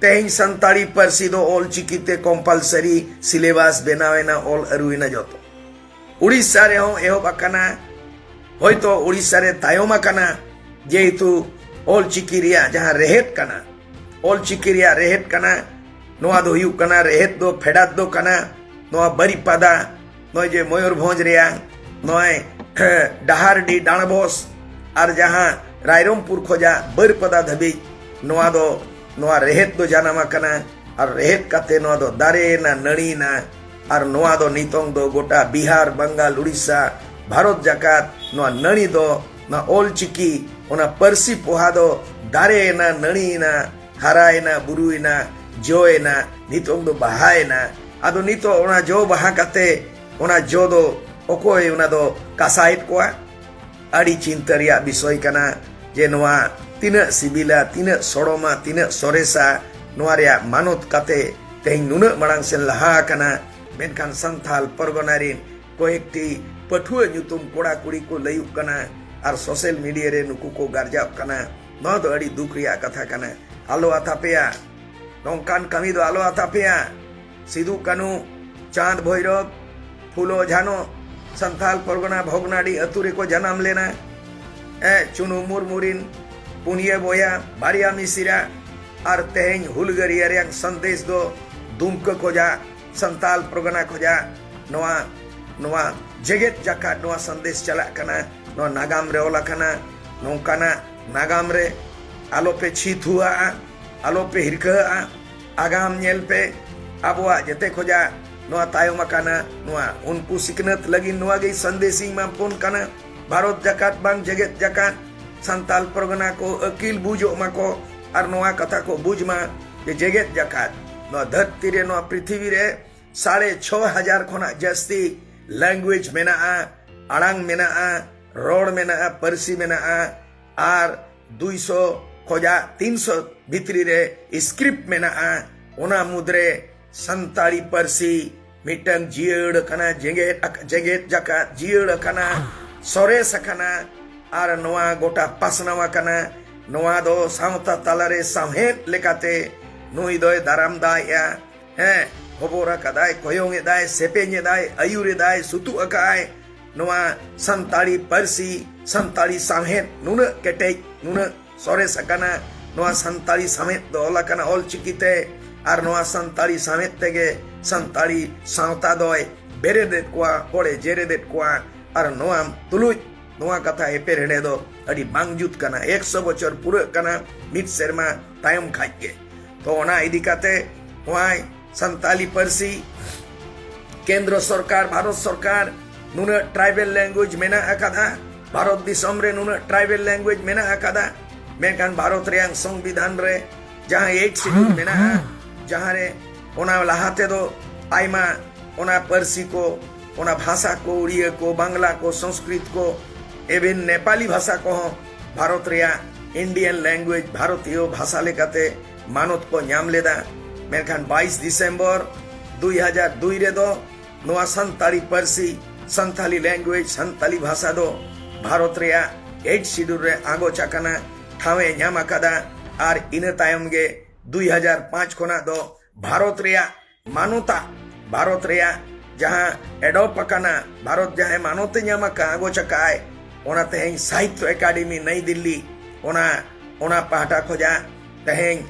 ᱛᱮᱦᱮᱧ ᱥᱟᱱᱛᱟᱲᱤ ᱯᱟᱹᱨᱥᱤ ᱫᱚ ᱚᱞ ᱪᱤᱠᱤ ᱛᱮ ᱠᱚᱢᱯᱟᱞᱥᱟᱨᱤ ᱥᱤᱞᱮᱵᱟᱥ ᱵᱮᱱᱟᱣ ᱮᱱᱟ ᱚᱞ ᱟᱹᱨᱩᱭᱮᱱᱟ ᱡᱚᱛᱚ ᱩᱲᱤᱥᱥᱟ ᱨᱮᱦᱚᱸ ᱮᱦᱚᱵ ᱟᱠᱟᱱᱟ ᱦᱚᱭᱛᱚ ᱩᱲᱤᱥᱥᱟ ᱨᱮ ᱛᱟᱭᱚᱢ ᱟᱠᱟᱱᱟ ᱡᱮᱦᱮᱛᱩ ᱚᱞ ᱪᱤᱠᱤ ᱨᱮᱭᱟᱜ ᱡᱟᱦᱟᱸ ᱨᱮᱦᱮᱫ ᱠᱟᱱᱟ ᱚᱞ ᱪᱤᱠᱤ ᱨᱮᱭᱟᱜ ᱨᱮᱦᱮᱫ ᱠᱟᱱᱟ ᱱᱚᱣᱟ ᱫᱚ ᱦᱩᱭᱩᱜ ᱠᱟᱱᱟ ᱨᱮᱦᱮᱫ ᱫᱚ ᱯᱷᱮᱰᱟᱛ ᱫᱚ ᱠᱟᱱᱟ ᱱᱚᱣᱟ ᱵᱟᱹᱨᱤᱯᱟᱫᱟ ᱱᱚᱜᱼᱚᱭ ᱡᱮ ᱢᱚᱭᱩᱨᱵᱷᱚᱸᱡᱽ ᱨᱮᱭᱟᱝ ᱱᱚᱜᱼᱚᱭ ᱰᱟᱦᱟᱨᱰᱤ ᱰᱟᱬᱵᱚᱥ ᱟᱨ ᱡᱟᱦᱟᱸ ᱨᱟᱭᱨᱚᱢᱯᱩᱨ ᱠᱷᱚᱡᱟᱜ ᱵᱟᱹᱨᱯᱟᱫᱟ ᱫᱷᱟᱹᱵᱤᱡ ᱱᱚᱣᱟ ᱫᱚ ᱱᱚᱣᱟ ᱨᱮᱦᱮᱫ ᱫᱚ ᱡᱟᱱᱟᱢ ᱟᱠᱟᱱᱟ ᱟᱨ ᱨᱮᱦᱮᱫ ᱠᱟᱛᱮ ᱱᱚᱣᱟ ᱫᱚ ᱫᱟᱨᱮᱭᱮᱱᱟ ᱱᱟᱹᱲᱤᱭᱮᱱᱟ ᱟᱨ ᱱᱚᱣᱟ ᱫᱚ ᱱᱤᱛᱚᱝ ᱫᱚ ᱜᱚᱴᱟ ᱵᱤᱦᱟᱨ ᱵᱟᱝᱜᱟᱞ ᱩᱲᱤᱥᱥᱟ ᱵᱷᱟᱨᱚᱛ ᱡᱟᱠᱟᱛ ᱱᱚᱣᱟ ᱱᱟᱹᱲᱤ ᱫᱚ ᱱᱚᱣᱟ ᱚᱞ ᱪᱤᱠᱤ ᱚᱱᱟ ᱯᱟᱹᱨᱥᱤ ᱯᱚᱦᱟ ᱫᱚ ᱫᱟᱨᱮᱭᱮᱱᱟ ᱱᱟᱹᱲᱤᱭᱮᱱᱟ ᱦᱟᱨᱟᱭᱮᱱᱟ ᱵᱩᱨᱩᱭᱮᱱᱟ ᱡᱚᱭᱮᱱᱟ ᱱᱤᱛᱚᱝ ᱫᱚ ᱵᱟᱦᱟᱭᱮᱱᱟ ᱟᱫᱚ ᱱᱤᱛᱚᱜ ᱚᱱᱟ ᱡᱚ ᱵᱟᱦᱟ ᱠᱟᱛᱮ ᱚᱱᱟ ᱡᱚ ᱫᱚ ᱚᱠᱚᱭ ᱚᱱᱟ ᱫᱚ ᱠᱟᱥᱟᱭᱮᱫ ᱠᱚᱣᱟ ᱟᱹᱰᱤ ᱪᱤᱱᱛᱟᱹ ᱨᱮᱭᱟᱜ ᱵᱤᱥᱚᱭ ᱠᱟᱱᱟ ᱡᱮ ᱱᱚᱣᱟ ᱛᱤᱱᱟᱹᱜ ᱥᱤᱵᱤᱞᱟ ᱛᱤᱱᱟᱹᱜ ᱥᱚᱲᱚᱢᱟ ᱛᱤᱱᱟᱹᱜ ᱥᱚᱨᱮᱥᱟ ᱱᱚᱣᱟ ᱨᱮᱭᱟᱜ ᱢᱟᱱᱚᱛ ᱠᱟᱛᱮ ᱛᱮᱦᱮᱧ ᱱᱩᱱᱟᱹᱜ ᱢᱟᱲᱟᱝ ᱥᱮᱱ ᱞᱟᱦᱟ ᱟᱠᱟᱱᱟ ᱢᱮᱱᱠᱷᱟᱱ ᱥᱟᱱᱛᱷᱟᱞ ᱯᱚᱨᱜᱚᱱᱟ ᱨᱮᱱ ᱠᱚᱭᱮᱠᱴᱤ ᱯᱟᱹᱴᱷᱩᱣᱟᱹ ᱧᱩᱛᱩᱢ ᱠᱚᱲᱟ ᱠᱩᱲᱤ ᱠᱚ ᱞᱟᱹᱭᱩᱜ ᱠᱟᱱᱟ ᱟᱨ ᱥᱳᱥᱟᱞ ᱢᱤᱰᱤᱭᱟ ᱨᱮ ᱱᱩᱠᱩ ᱠᱚ ᱜᱟᱨᱡᱟᱜ ᱠᱟᱱᱟ ᱱᱚᱣᱟ ᱫᱚ ᱟᱹᱰᱤ ᱫᱩᱠ ᱨᱮᱭᱟᱜ ᱠᱟᱛᱷᱟ ᱠᱟᱱᱟ ᱟᱞᱚ ᱟᱛᱟᱯᱮᱭᱟ ᱱᱚᱝᱠᱟᱱ ᱠᱟᱹᱢᱤ ᱫᱚ ᱟᱞᱚ ᱟᱛᱟᱯᱮᱭᱟ ᱥᱤᱫᱩ ᱠᱟᱹᱱᱩ ᱪᱟᱸᱫ ᱵᱷᱳᱭᱨᱚᱵ ᱯᱷᱩᱞᱳ ᱡᱷᱟᱱᱚ ᱥᱟᱱᱛᱟᱞ ᱯᱚᱨᱜᱚᱱᱟ ᱵᱷᱚᱜᱽᱱᱟᱰᱤ ᱟᱹᱛᱩ ᱨᱮᱠᱚ ᱡᱟᱱᱟᱢ ᱞᱮᱱᱟ ᱮ ᱪᱩᱱᱩ ᱢᱩᱨᱢᱩ ᱨᱤᱱ ᱯᱩᱱᱭᱟᱹ ᱵᱚᱭᱟ ᱵᱟᱨᱭᱟ ᱢᱤᱥᱤᱨᱟ ᱟᱨ ᱛᱮᱦᱮᱧ ᱦᱩᱞᱜᱟᱹᱨᱤᱭᱟᱹ ᱨᱮᱭᱟᱜ ᱥᱟᱸᱫᱮᱥ ᱫᱚ ᱫᱩᱢᱠᱟᱹ ᱠᱷᱚᱡᱟᱜ ᱥᱟᱱᱛᱟᱞ ᱯᱚᱨᱜᱚᱱᱟ ᱠᱷᱚᱡᱟᱜ ᱱᱚᱣᱟ ᱱᱚᱣᱟ ᱡᱮᱜᱮᱛ ᱡᱟᱠᱟᱛ ᱱᱚᱣᱟ ᱥᱟᱸᱫᱮᱥ ᱪᱟᱞᱟᱜ ᱠᱟᱱᱟ ᱱᱚᱣᱟ ᱱᱟᱜᱟᱢ ᱨᱮ ᱚᱞ ᱟᱠᱟᱱᱟ ᱱᱚᱝᱠᱟᱱᱟᱜ ᱱᱟᱜᱟᱢ ᱨᱮ ᱟᱞᱚᱯᱮ ᱪᱷᱤ ᱛᱷᱩᱣᱟᱜᱼᱟ ᱟᱞᱚᱯᱮ ᱦᱤᱨᱠᱟᱹᱜᱼᱟ ᱟᱜᱟᱢ ᱧᱮᱞ ᱯᱮ ᱟᱵᱚᱣᱟᱜ ᱡᱮᱛᱮ ᱠᱷᱚᱡᱟᱜ ᱱᱚᱣᱟ ᱛᱟᱭᱚᱢ ᱟᱠᱟᱱᱟ ᱱᱚᱣᱟ ᱩᱱᱠᱩ ᱥᱤᱠᱷᱱᱟᱹᱛ ᱞᱟᱹᱜᱤᱫ ᱱᱚᱣᱟ ᱜᱮ ᱥᱟᱸᱫᱮᱥ ᱤᱧ ᱮᱢᱟ ᱵᱚᱱ ᱠᱟᱱᱟ ᱵᱷᱟᱨᱚᱛ ᱡᱟᱠᱟᱛ ᱵᱟᱝ ᱡᱮᱜᱮᱛ ᱡᱟᱠᱟᱛ ᱥᱟᱱᱛᱟᱞ ᱯᱨᱚᱜᱚᱱᱟ ᱠᱚ ᱟᱹᱠᱤᱞ ᱵᱩᱡᱚᱜ ᱢᱟᱠᱚ ᱟᱨ ᱱᱚᱣᱟ ᱠᱟᱛᱷᱟ ᱠᱚ ᱵᱩᱡᱽ ᱢᱟ ᱡᱮ ᱡᱮᱜᱮᱛ ᱡᱟᱠᱟᱛ ᱱᱚᱣᱟ ᱫᱷᱟᱹᱨᱛᱤ ᱨᱮ ᱱᱚᱣᱟ ᱯᱨᱤᱛᱷᱤᱵᱤ ᱨᱮ ᱥᱟᱲᱮ ᱪᱷᱚ ᱦᱟᱡᱟᱨ ᱠᱷᱚᱱᱟᱜ ᱡᱟᱹᱥᱛᱤ ᱞᱮᱝᱜᱩᱭᱮᱡᱽ ᱢᱮᱱᱟᱜᱼᱟ ᱟᱲᱟᱝ ᱢᱮᱱᱟᱜᱼᱟ ᱨᱚᱲ ᱢᱮᱱᱟᱜᱼᱟ ᱯᱟᱹᱨᱥᱤ ᱢᱮᱱᱟᱜᱼᱟ ᱟᱨ ᱫᱩᱭᱥᱚ ᱠᱷᱚᱡᱟᱜ ᱛᱤᱱᱥᱚ ᱵᱷᱤᱛᱨᱤ ᱨᱮ ᱥᱠᱨᱤᱯᱴ ᱢᱮᱱᱟᱜᱼᱟ ᱚᱱᱟ ᱢᱩᱫᱽᱨᱮ ᱥᱟᱱᱛᱟᱲᱤ ᱯᱟᱹᱨᱥᱤ ᱢᱤᱫᱴᱟᱝ ᱡᱤᱭᱟᱹᱲ ᱟᱠᱟᱱᱟ ᱡᱮᱜᱮᱛ ᱡᱮᱜᱮᱛ ᱡᱟᱠᱟᱛ ᱡᱤᱭᱟᱹᱲ ᱟᱠᱟᱱᱟ ᱥᱚᱨᱮᱥ ᱟᱠᱟᱱᱟ ᱟᱨ ᱱᱚᱣᱟ ᱜᱚᱴᱟ ᱯᱟᱥᱱᱟᱣ ᱟᱠᱟᱱᱟ ᱱᱚᱣᱟ ᱫᱚ ᱥᱟᱶᱛᱟ ᱛᱟᱞᱟᱨᱮ ᱥᱟᱶᱦᱮᱫ ᱞᱮᱠᱟᱛᱮ ᱱᱩᱭ ᱫᱚᱭ ᱫᱟᱨᱟᱢ ᱫᱟᱭᱮᱜᱼᱟ ᱦᱮᱸ ᱦᱚᱵᱚᱨ ᱟᱠᱟᱫᱟᱭ ᱠᱚᱭᱚᱝ ᱮᱫᱟᱭ ᱥᱮᱯᱮᱧ ᱮᱫᱟᱭ ᱟᱹᱭᱩᱨ ᱮᱫᱟᱭ ᱥᱩᱛᱩᱜ ᱟᱠᱟᱫᱟᱭ ᱱᱚᱣᱟ ᱥᱟᱱᱛᱟᱲᱤ ᱯᱟᱹᱨᱥᱤ ᱥᱟᱱᱛᱟᱲᱤ ᱥᱟᱶᱦᱮᱫ ᱱᱩᱱᱟᱹᱜ ᱠᱮᱴᱮᱡ ᱱᱩᱱᱟᱹᱜ ᱥᱚᱨᱮᱥ ᱟᱠᱟᱱᱟ ᱱᱚᱣᱟ ᱥᱟᱱᱛᱟᱲᱤ ᱥᱟᱶᱦᱮᱫ ᱫᱚ ᱚᱞ ᱟᱠᱟᱱᱟ ᱚᱞ ᱪᱤᱠᱤᱛᱮ ᱟᱨ ᱱᱚᱣᱟ ᱥᱟᱱᱛᱟᱲᱤ ᱥᱟᱶᱦᱮᱫ ᱛᱮᱜᱮ ᱥᱟᱱᱛᱟᱲᱤ ᱥᱟᱶᱛᱟ ᱫᱚᱭ ᱵᱮᱨᱮᱫᱮᱫ ᱠᱚᱣᱟ ᱦᱚᱲᱮ ᱡᱮᱨᱮᱫᱮᱫ ᱠᱚᱣᱟ ᱟᱨ ᱱᱚᱣᱟ ᱛᱩᱞᱩᱡ ᱱᱚᱣᱟ ᱠᱟᱛᱷᱟ ᱮᱯᱮᱨ ᱦᱮᱰᱮ ᱫᱚ ᱟᱹᱰᱤ ᱵᱟᱝ ᱡᱩᱛ ᱠᱟᱱᱟ ᱮᱠᱥᱚ ᱵᱚᱪᱷᱚᱨ ᱯᱩᱨᱟᱹᱜ ᱠᱟᱱᱟ ᱢᱤᱫ ᱥᱮᱨᱢᱟ ᱛᱟᱭᱚᱢ ᱠᱷᱟᱡ ᱜᱮ ᱛᱚ ᱚᱱᱟ ᱤᱫᱤ ᱠᱟᱛᱮ ᱱᱚᱣᱟ ᱥᱟᱱᱛᱟᱞᱤ ᱯᱟᱹᱨᱥᱤ ᱠᱮᱱᱫᱨᱚ ᱥᱚᱨᱠᱟᱨ ᱵᱷᱟᱨᱚᱛ ᱥᱚᱨᱠᱟᱨ ᱱᱩᱱᱟᱹᱜ ᱴᱨᱟᱭᱵᱮᱞ ᱞᱮᱝᱜᱩᱭᱮᱡᱽ ᱢᱮᱱᱟᱜ ᱟᱠᱟᱫᱟ ᱵᱷᱟᱨᱚᱛ ᱫᱤᱥᱚᱢ ᱨᱮ ᱱᱩᱱᱟᱹᱜ ᱴᱨᱟᱭᱵᱮᱞ ᱞᱮᱝᱜᱩᱭᱮᱡᱽ ᱢᱮᱱᱟᱜ ᱟᱠᱟᱫᱟ ᱢᱮᱱᱠᱷᱟᱱ ᱵᱷᱟᱨᱚᱛ ᱨᱮᱭᱟᱜ ᱥᱚᱝᱵᱤᱫᱷᱟᱱ ᱨᱮ ᱡᱟᱦᱟᱸ ᱮᱭᱤᱴ ᱥᱤᱰᱩᱞ ᱢᱮᱱᱟᱜᱼᱟ ᱡᱟᱦᱟᱸ ᱨᱮ ᱚᱱᱟ ᱞᱟᱦᱟ ᱛᱮᱫᱚ ᱟᱭᱢᱟ ᱚᱱᱟ ᱯᱟᱹᱨᱥᱤ ᱠᱚ ᱚᱱᱟ ᱵᱷᱟᱥᱟ ᱠᱚ ᱩᱲᱤᱭᱟᱹ ᱠᱚ ᱵᱟᱝᱞᱟ ᱠᱚ ᱥᱚᱝᱥᱠᱨᱤᱛ ᱠᱚ ᱮᱵᱷᱮᱱ ᱱᱮᱯᱟᱞᱤ ᱵᱷᱟᱥᱟ ᱠᱚᱦᱚᱸ ᱵᱷᱟᱨᱚᱛ ᱨᱮᱭᱟᱜ ᱤᱱᱰᱤᱭᱟᱱ ᱞᱮᱝᱜᱩᱭᱮᱡᱽ ᱵᱷᱟᱨᱚᱛᱤᱭᱚ ᱵᱷᱟᱥᱟ ᱞᱮᱠᱟᱛᱮ ᱢᱟᱱᱚᱛ ᱠᱚ ᱧᱟᱢ ᱞᱮᱫᱟ ᱢᱮᱱᱠᱷᱟᱱ 22 ᱫᱤᱥᱮᱢᱵᱚᱨ 2002 ᱨᱮᱫᱚ ᱱᱚᱣᱟ ᱥᱟᱱᱛᱟᱲᱤ ᱯᱟᱹᱨᱥᱤ ᱥᱟᱱᱛᱟᱞᱤ ᱞᱮᱝᱜᱩᱭᱮᱡᱽ ᱥᱟᱱᱛᱟᱞᱤ ᱵᱷᱟᱥᱟ ᱫᱚ ᱵᱷᱟᱨᱚᱛ ᱨᱮᱭᱟᱜ ᱮᱭᱤᱴ ᱥᱤᱰᱩᱞ ᱨᱮ ᱟᱸᱜᱚᱪ ᱟᱠᱟᱱᱟ ᱴᱷᱟᱶ ᱮ ᱧᱟᱢ ᱟᱠᱟᱫᱟ ᱟᱨ ᱤᱱᱟᱹ ᱛᱟᱭᱚᱢ ᱜᱮ 2005 ᱠᱷᱚᱱᱟᱜ ᱫᱚ ᱵᱷᱟᱨᱚᱛ ᱨᱮᱭᱟᱜ ᱢᱟᱱᱚᱛᱟ ᱵᱷᱟᱨᱚᱛ ᱨᱮᱭᱟᱜ ᱡᱟᱦᱟᱸ ᱮᱰᱚᱯ ᱟᱠᱟᱱᱟ ᱵᱷᱟᱨᱚᱛ ᱡᱟᱦᱟᱸᱭ ᱢᱟᱱᱚᱛᱮ ᱧᱟᱢ ᱟᱠᱟᱫ ᱟᱜᱚᱪ ᱟᱠᱟᱫ ᱚᱱᱟ ᱛᱮᱦᱮᱧ ᱥᱟᱦᱤᱛᱭᱚ ᱮᱠᱟᱰᱮᱢᱤ ᱱᱟᱭ ᱫᱤᱞᱞᱤ ᱚᱱᱟ ᱚᱱᱟ ᱯᱟᱦᱴᱟ ᱠᱷᱚᱡᱟᱜ ᱛᱮᱦᱮᱧ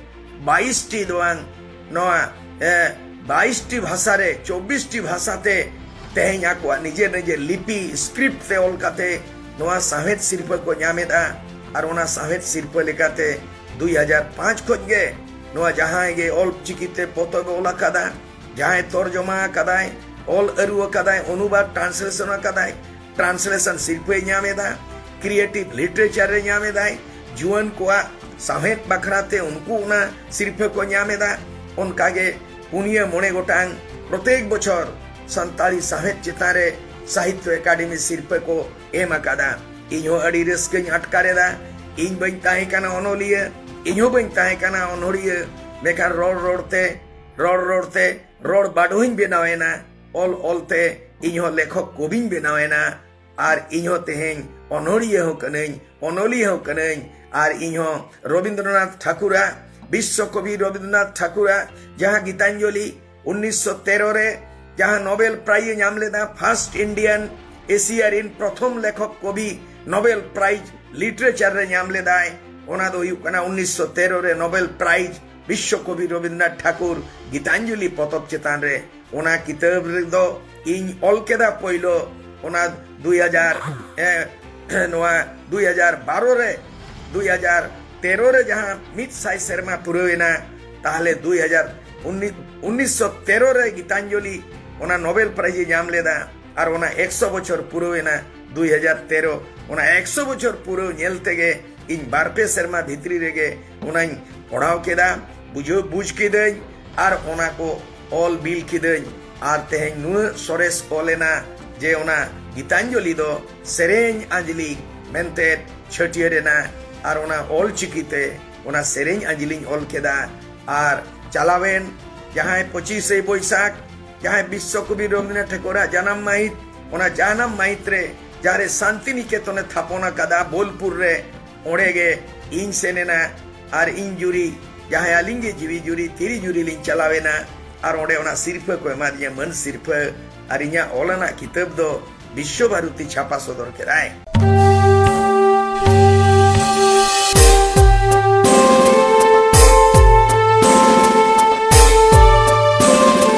ᱵᱟᱭᱤᱥᱴᱤ ᱫᱚ ᱵᱟᱝ ᱱᱚᱣᱟ ᱵᱟᱭᱤᱥᱴᱤ ᱵᱷᱟᱥᱟ ᱨᱮ ᱪᱚᱵᱵᱤᱥᱴᱤ ᱵᱷᱟᱥᱟ ᱛᱮ ᱛᱮᱦᱮᱧ ᱟᱠᱚᱣᱟᱜ ᱱᱤᱡᱮᱨ ᱱᱤᱡᱮᱨ ᱞᱤᱯᱤ ᱥᱠᱨᱤᱯᱴ ᱛᱮ ᱚᱞ ᱠᱟᱛᱮ ᱱᱚᱣᱟ ᱥᱟᱶᱦᱮᱫ ᱥᱤᱨᱯᱟᱹ ᱠᱚ ᱧᱟᱢᱮᱫᱟ ᱟᱨ ᱚᱱᱟ ᱥᱟᱶᱦᱮᱫ ᱥᱤᱨᱯᱟᱹ ᱞᱮᱠᱟᱛᱮ ᱫᱩᱭ ᱦᱟᱡᱟᱨ ᱯᱟᱸᱪ ᱠᱷᱚᱡ ᱜᱮ ᱱᱚᱣᱟ ᱡᱟᱦᱟᱸᱭ ᱜᱮ ᱚᱞ ᱪᱤᱠᱤᱛᱮ ᱯᱚᱛᱚᱵ ᱚᱞ ᱟᱠᱟᱫᱟ ᱡᱟᱦᱟᱸᱭ ᱛᱚᱨᱡᱚᱢᱟ ᱟᱠᱟᱫᱟᱭ ᱚᱞ ᱟᱹᱨᱩ ᱟᱠᱟᱫᱟᱭ ᱚᱱᱩᱵᱟᱫ ᱴᱨᱟᱱᱥᱞᱮᱥᱚᱱ ᱟᱠᱟᱫᱟᱭ ᱴᱨᱟᱱᱥᱞᱮᱥᱚᱱ ᱥᱤᱨᱯᱟᱹᱭ ᱧᱟᱢ ᱮᱫᱟ ᱠᱨᱤᱭᱮᱴᱤᱵᱷ ᱞᱤᱴᱟᱨᱮᱪᱟᱨ ᱨᱮ ᱧᱟᱢ ᱮᱫᱟᱭ ᱡᱩᱣᱟᱹᱱ ᱠᱚᱣᱟᱜ ᱥᱟᱶᱦᱮᱫ ᱵᱟᱠᱷᱨᱟᱛᱮ ᱩᱱᱠᱩ ᱚᱱᱟ ᱥᱤᱨᱯᱟᱹ ᱠᱚ ᱧᱟᱢ ᱮᱫᱟ ᱚᱱᱠᱟᱜᱮ ᱯᱩᱱᱭᱟᱹ ᱢᱚᱬᱮ ᱜᱚᱴᱟᱝ ᱯᱨᱚᱛᱮᱠ ᱵᱚᱪᱷᱚᱨ ᱥᱟᱱᱛᱟᱲᱤ ᱥᱟᱶᱦᱮᱫ ᱪᱮᱛᱟᱱ ᱨᱮ ᱥᱟᱦᱤᱛᱭᱚ ᱮᱠᱟᱰᱮᱢᱤ ᱥᱤᱨᱯᱟᱹ ᱠᱚ ᱮᱢ ᱟᱠᱟᱫᱟ ᱤᱧ ᱦᱚᱸ ᱟᱹᱰᱤ ᱨᱟᱹᱥᱠᱟᱹᱧ ᱟᱴᱠᱟᱨᱮᱫᱟ ᱤᱧ ᱵᱟᱹᱧ ᱛᱟᱦᱮᱸ ᱠᱟᱱᱟ ᱚᱱᱚᱞᱤᱭᱟᱹ ᱤᱧ ᱦᱚᱸ ᱵᱟᱹᱧ ᱛᱟᱦᱮᱸ ᱠᱟᱱᱟ ᱚᱱᱚᱲᱤᱭᱟᱹ ᱢᱮᱱᱠᱷᱟᱱ ᱨᱚᱲ ᱨᱚᱲᱛᱮ ᱨᱚᱲ ᱨᱚᱲᱛᱮ ᱨᱚᱲ ᱵᱟᱰᱚᱦᱤᱧ ᱵᱮᱱᱟᱣᱮᱱᱟ ᱚᱞ ᱚᱞᱛᱮ ᱤᱧ ᱦᱚᱸ ᱞᱮᱠᱷᱚᱠ ᱠᱚᱵᱤᱧ ᱵᱮᱱᱟᱣᱮᱱᱟ ᱟᱨ ᱤᱧ ᱦᱚᱸ ᱛᱮᱦᱮᱧ ᱚᱱᱚᱲᱤᱭᱟᱹ ᱦᱚᱸ ᱠᱟᱹᱱᱟᱹᱧ ᱚᱱᱚᱞᱤᱭᱟᱹ ᱦᱚᱸ ᱠᱟᱹᱱᱟᱹᱧ ᱟᱨ ᱤᱧ ᱦᱚᱸ ᱨᱚᱵᱤᱱᱫᱨᱚᱱᱟᱛᱷ ᱴᱷᱟᱠᱩᱨᱟᱜ ᱵᱤᱥᱥᱚ ᱠᱚᱵᱤ ᱨᱚᱵᱤᱱᱫᱨᱚᱱᱟᱛᱷ ᱴᱷᱟᱠᱩᱨᱟᱜ ᱡᱟᱦᱟᱸ ᱜᱤᱛᱟᱧᱡᱚᱞᱤ 1913 ᱨᱮ ᱡᱟᱦᱟᱸ ᱱᱳᱵᱮᱞ ᱯᱨᱟᱭᱤᱡᱽ ᱮ ᱧᱟᱢ ᱞᱮᱫᱟ ᱯᱷᱟᱨᱥᱴ ᱤᱱᱰᱤᱭᱟᱱ ᱮᱥᱤᱭᱟ ᱨᱤᱱ ᱯᱨᱚᱛᱷᱚᱢ ᱞᱮᱠᱷᱚᱠ ᱠᱚᱵᱤ ᱱᱳᱵᱮᱞ ᱯᱨᱟᱭᱤᱡᱽ ᱞᱤᱴᱟᱨᱮᱪᱟᱨ ᱨᱮ ᱧᱟᱢ ᱞᱮᱫᱟᱭ ᱚᱱᱟ ᱫᱚ ᱦᱩᱭᱩᱜ ᱠᱟᱱᱟ 1913 ᱨᱮ ᱱᱳᱵᱮᱞ ᱯᱨᱟᱭᱤᱡᱽ ᱵᱤᱥᱥᱚ ᱠᱚᱵᱤ ᱨᱚᱵᱤᱱᱫᱨᱚᱱᱟᱛᱷ ᱴᱷᱟᱠᱩᱨ ᱜᱤᱛᱟᱧᱡᱚᱞᱤ ᱯᱚᱛᱚᱵ ᱪᱮᱛᱟᱱ ᱨᱮ ᱚᱱᱟ ᱠᱤᱛᱟᱹᱵ ᱨᱮᱫᱚ ᱤᱧ ᱚᱞ ᱠᱮᱫᱟ ᱯᱳᱭᱞᱳ ᱚᱱᱟ 2000 ᱱᱚᱣᱟ 2012 ᱨᱮ 2000 ᱛᱮᱨᱚ ᱨᱮ ᱡᱟᱦᱟᱸ ᱢᱤᱫ ᱥᱟᱭ ᱥᱮᱨᱢᱟ ᱯᱩᱨᱟᱹᱣ ᱮᱱᱟ ᱛᱟᱦᱞᱮ ᱫᱩᱭ ᱦᱟᱡᱟᱨ ᱩᱱᱤᱥᱥᱚ ᱛᱮᱨᱚ ᱨᱮ ᱜᱤᱛᱟᱧᱡᱚᱞᱤ ᱚᱱᱟ ᱱᱚᱵᱮᱞ ᱯᱨᱟᱭᱤᱡᱽ ᱮ ᱧᱟᱢ ᱞᱮᱫᱟ ᱟᱨ ᱚᱱᱟ ᱮᱠᱥᱚ ᱵᱚᱪᱷᱚᱨ ᱯᱩᱨᱟᱹᱣ ᱮᱱᱟ ᱫᱩᱭ ᱦᱟᱡᱟᱨ ᱛᱮᱨᱚ ᱚᱱᱟ ᱮᱠᱥᱚ ᱵᱚᱪᱷᱚᱨ ᱯᱩᱨᱟᱹᱣ ᱧᱮᱞ ᱛᱮᱜᱮ ᱤᱧ ᱵᱟᱨ ᱯᱮ ᱥᱮᱨᱢᱟ ᱵᱷᱤᱛᱨᱤ ᱨᱮᱜᱮ ᱚᱱᱟᱧ ᱯᱚᱲᱦᱟᱣ ᱠᱮᱫᱟ ᱵᱩᱡᱷᱟᱹᱣ ᱵᱩᱡᱽ ᱠᱤᱫᱟᱹᱧ ᱟᱨ ᱚᱱᱟ ᱠᱚ ᱚᱞ ᱵᱤᱞ ᱠᱤᱫᱟᱹᱧ ᱟᱨ ᱛᱮᱦᱮᱧ ᱱᱩᱱᱟᱹᱜ ᱥᱚᱨᱮᱥ ᱚᱞ ᱮᱱᱟ ᱡᱮ ᱚᱱᱟ ᱜᱤᱛᱟᱧᱡᱚᱞᱤ ᱫᱚ ᱥᱮᱨᱮᱧ ᱟᱸᱡᱽᱞᱤ ᱢᱮᱱᱛᱮ ᱪᱷᱟᱹᱴᱭᱟᱹᱨ ᱮᱱᱟ ᱟᱨ ᱚᱱᱟ ᱚᱞ ᱪᱤᱠᱤ ᱛᱮ ᱚᱱᱟ ᱥᱮᱨᱮᱧ ᱟᱸᱡᱽᱞᱤᱧ ᱚᱞ ᱠᱮᱫᱟ ᱟᱨ ᱪᱟᱞᱟᱣᱮᱱ ᱡᱟᱦᱟᱸᱭ ᱯᱚᱸᱪᱤᱥᱮ ᱵᱳᱭᱥᱟᱠᱷ ᱡᱟᱦᱟᱸᱭ ᱵᱤᱥᱥᱚ ᱠᱚᱵᱤ ᱨᱚᱵᱤᱱᱫᱨᱚᱱᱟᱛᱷ ᱴᱷᱟᱹᱠᱩᱨᱟᱜ ᱡᱟᱱᱟᱢ ᱢᱟᱹᱦᱤᱛ ᱚᱱᱟ ᱡᱟᱱᱟᱢ ᱢᱟᱹᱦᱤᱛ ᱨᱮ ᱡᱟᱦᱟᱸᱨᱮ ᱥᱟᱱᱛᱤᱱᱤᱠᱮᱛᱚᱱᱮ ᱛᱷᱟᱯᱚᱱ ᱟᱠᱟᱫᱟ ᱵᱳᱞᱯᱩᱨ ᱨᱮ ᱚᱸᱰᱮ ᱜᱮ ᱤᱧ ᱥᱮᱱ ᱮᱱᱟ ᱟᱨ ᱤᱧ ᱡᱩᱨᱤ ᱡᱟᱦᱟᱸᱭ ᱟᱹᱞᱤᱧ ᱜᱮ ᱡᱤᱣᱤ ᱡᱩᱨᱤ ᱛᱤᱨᱤ ᱡᱩᱨᱤ ᱞᱤᱧ ᱪᱟᱞᱟᱣ ᱮᱱᱟ ᱟᱨ ᱚᱸᱰᱮ ᱚᱱᱟ ᱥᱤᱨᱯᱷᱟᱹ ᱠᱚ ᱮᱢᱟᱫᱤᱧᱟ ᱢᱟᱹᱱ ᱥᱤᱨᱯᱷᱟᱹ ᱟᱨ ᱤᱧᱟᱹᱜ ᱚᱞ ᱟᱱᱟᱜ ᱠᱤᱛᱟᱹᱵ ᱫᱚ ᱵᱤᱥᱥᱚ ᱵᱷᱟᱨᱚᱛᱤ ᱪᱷᱟᱯᱟ ᱥᱚᱫᱚᱨ ᱠᱮᱫᱟᱭ